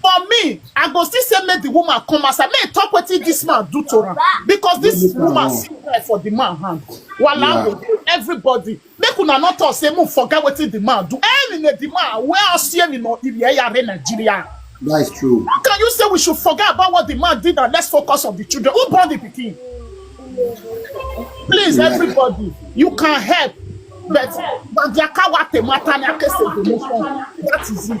For me, I go still say make the woman come outside, make e talk wetin this man do to am because this This man woman wrong. see knife for the man hand. Wahala Yeah. go dey everybody. Make una no talk say make forget wetin the man do. Any na the man wey asie ni no iri eya re Nigeria. That is true. How can you say we should forget about what the man did and let's focus on the children? Who born the pikin? Please, Yeah. everybody, you can help. But Bandiakawa Temata Nyakese Demotion. That is it.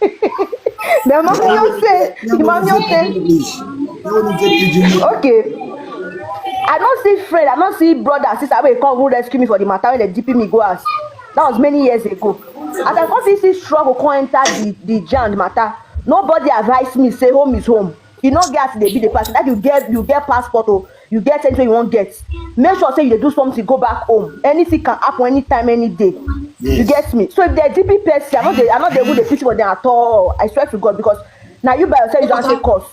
the mommy don say the mommy don say okay i no see friend i no see brother and sister wey come go rescue me for the matter wey dey dp me go house that was many years ago as i come see see struggle come enter the the jam the matter nobody advise me say home is home e no get as e dey be the person that you get you get passport or you get anything you wan get make sure say you dey do something go back home anything can happen anytime any day you Yes. get me so if dem dp person i no dey i no dey even dey pity for them at all i swear to god because na you by yourself you don take cause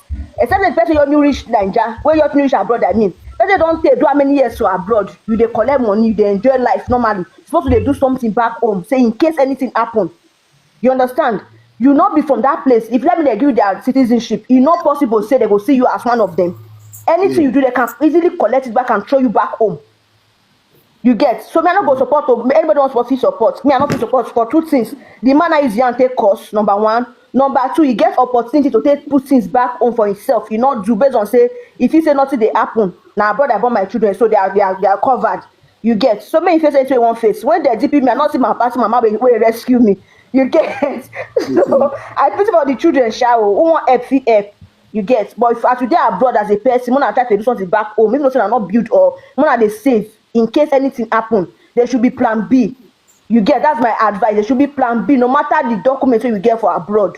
except the person your new reach naija wey your new reach abroad i mean person don take do how many years for abroad you dey collect money you dey enjoy life normally you suppose to dey do something back home say in case anything happen You understand? You not be from that place. If let me they give you their citizenship, it's not possible say they go see you as one of them. Anything yeah. you do, they can easily collect it back and throw you back home. You get so me I no go support to anybody wants to fit support me I no fit support for two things the man is young take course number one number two he get opportunity to take put things back home for himself you no do based on say if he say nothing dey happen na abroad I born my children so they are they are they are covered you get so many faces wey wan face when dem deep me i no see my papa see mama wey wey rescue me you get so i pity for the children sha o who wan help fit help you get but if as you dey abroad as a person una try to do something back home if no say una no build or una dey save in case anything happen there should be plan b you get that's my advice there should be plan b no matter the document wey you get for abroad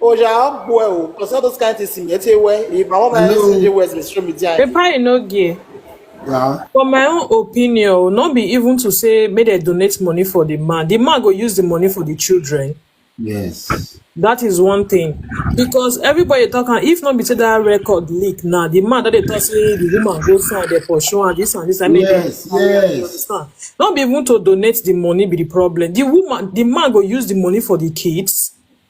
Oja, how well? Because all those kind of things in get away. If my mom has Hello. CJ West, they show me there. Papa Inogie, Yeah. for my own opinion, o, no be even to say make dem donate money for the man. The man go use the money for the children. Yes. That is one thing. Because everybody talk am, if not be say that record leak now, the man that they talk say the woman go sign there for sure and this and this and maybe Yes. you Yes. understand. Not be even to donate the money be the problem. The woman, the man go use the money for the kids.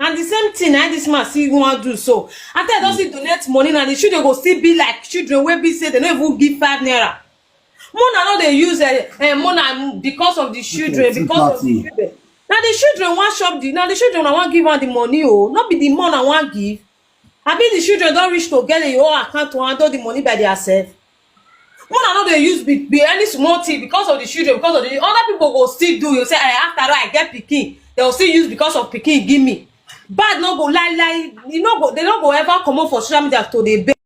and the same thing na this man still wan do so after i don still donate money na the children go still be like children wey be say dem no even give five naira mona no dey use eh, eh, mona because of the children see because of the party. children na the children wan chop the na the children na wan give am the money o no be the mona wan give abi the children don reach to get the whole account to handle the money by their self una no dey use be be any small thing because of the children because of the other people go still do you say eh after all i get pikin they go still use because of pikin give me bad no go lie lie e no go they no go ever comot for social media to dey beg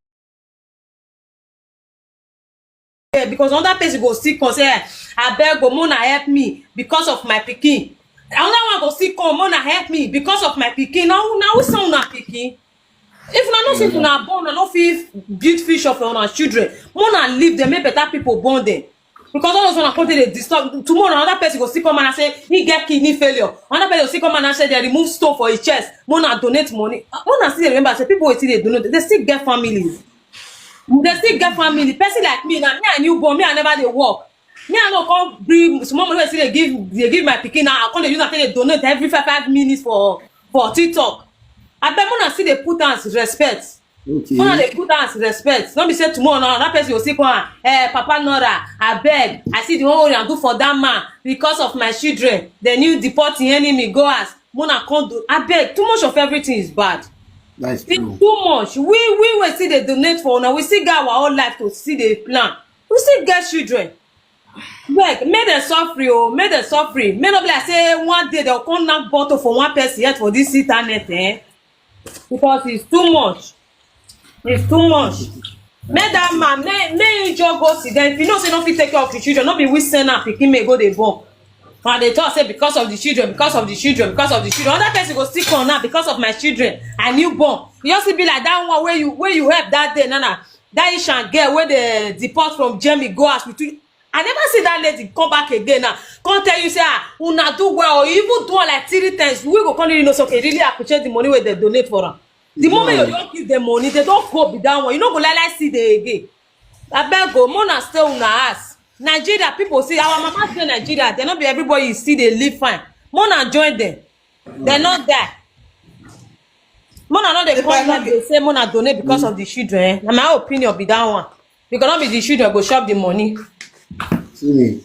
eh because another person go still come say eh abeg o mona help me because of my pikin another one go still come mona help me because of my pikin na who na who send una pikin if una know say if una born una no fit build future for una children more na leave them make better people born them because all those una come take dey disturb tomorrow another person go still come and say he get kidney failure another person go still come and say they remove stone for his chest more na donate money Ah, more na still dey remember say people wey still dey donate they still get families they still get family person like me na me i new born me i never dey work me i no come bring small money wey still dey give dey give my pikin now i come dey use am take dey donate every five five minutes for for tiktok abeg make una still dey put am as respect Okay. make una dey put am as respect no be say tomorrow na another person go still come am eh papa nora abeg i see the one wey una do for that man because of my children the new deport the enemy go house make una come do abeg too much of everything is bad That's It's true. too much. We we will still dey donate for una. We still get our own life to still dey plan. we still get children beg make dem suffer o make dem suffer make no be like say one day dem come knack bottle for one person head for this internet eh because it's too much it's too much make that man make make him just go sit down if you know say no fit take care of him children no be we send am pikin make go dey born una dey talk say because of the children because of the children because of the children another person go still come now because of my children i new born e just still be like that one wey you wey you help that day nana that ishan girl wey dey deport from germany go house with you i never see that lady come back again now come tell you say ah una do well or even do am like three times we go come really know say okay really appreciate the money wey dem donate for am the moment you don give dem money they don go be that one you no go like like see them again abeg o mo na stay una house Nigeria people see our mama dey Nigeria dem no be everybody you see dey live fine mo na join dem dem no die mo na no dey come here dey say mo na donate because of the children eh na my opinion be that one because no be the children go chop the money. See me.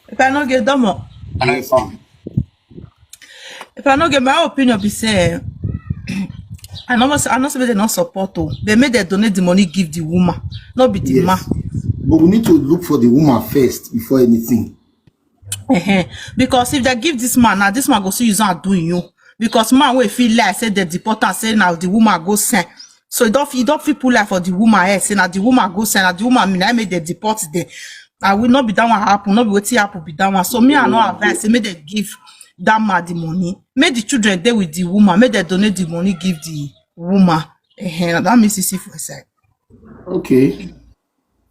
If I no get domo. And I found. If I no get my opinion, be say eh, I know I know say they not support oh. They made they donate the money give the woman, not be the yes. man. But we need to look for the woman first before anything. Uh -huh. Because if they give this man, now this man go see you not doing you. Because man will feel like say they deport and say now the woman go send. so e don fit e don fit put lie for the woman head say na the woman go send na the woman na im make dem deport dem and we no be that one happen no be wetin happen be that one so me i no advise say make dem give that man the money make the children dey with the woman make dem donate the money give the woman uh-huh. na that means you see for inside. okay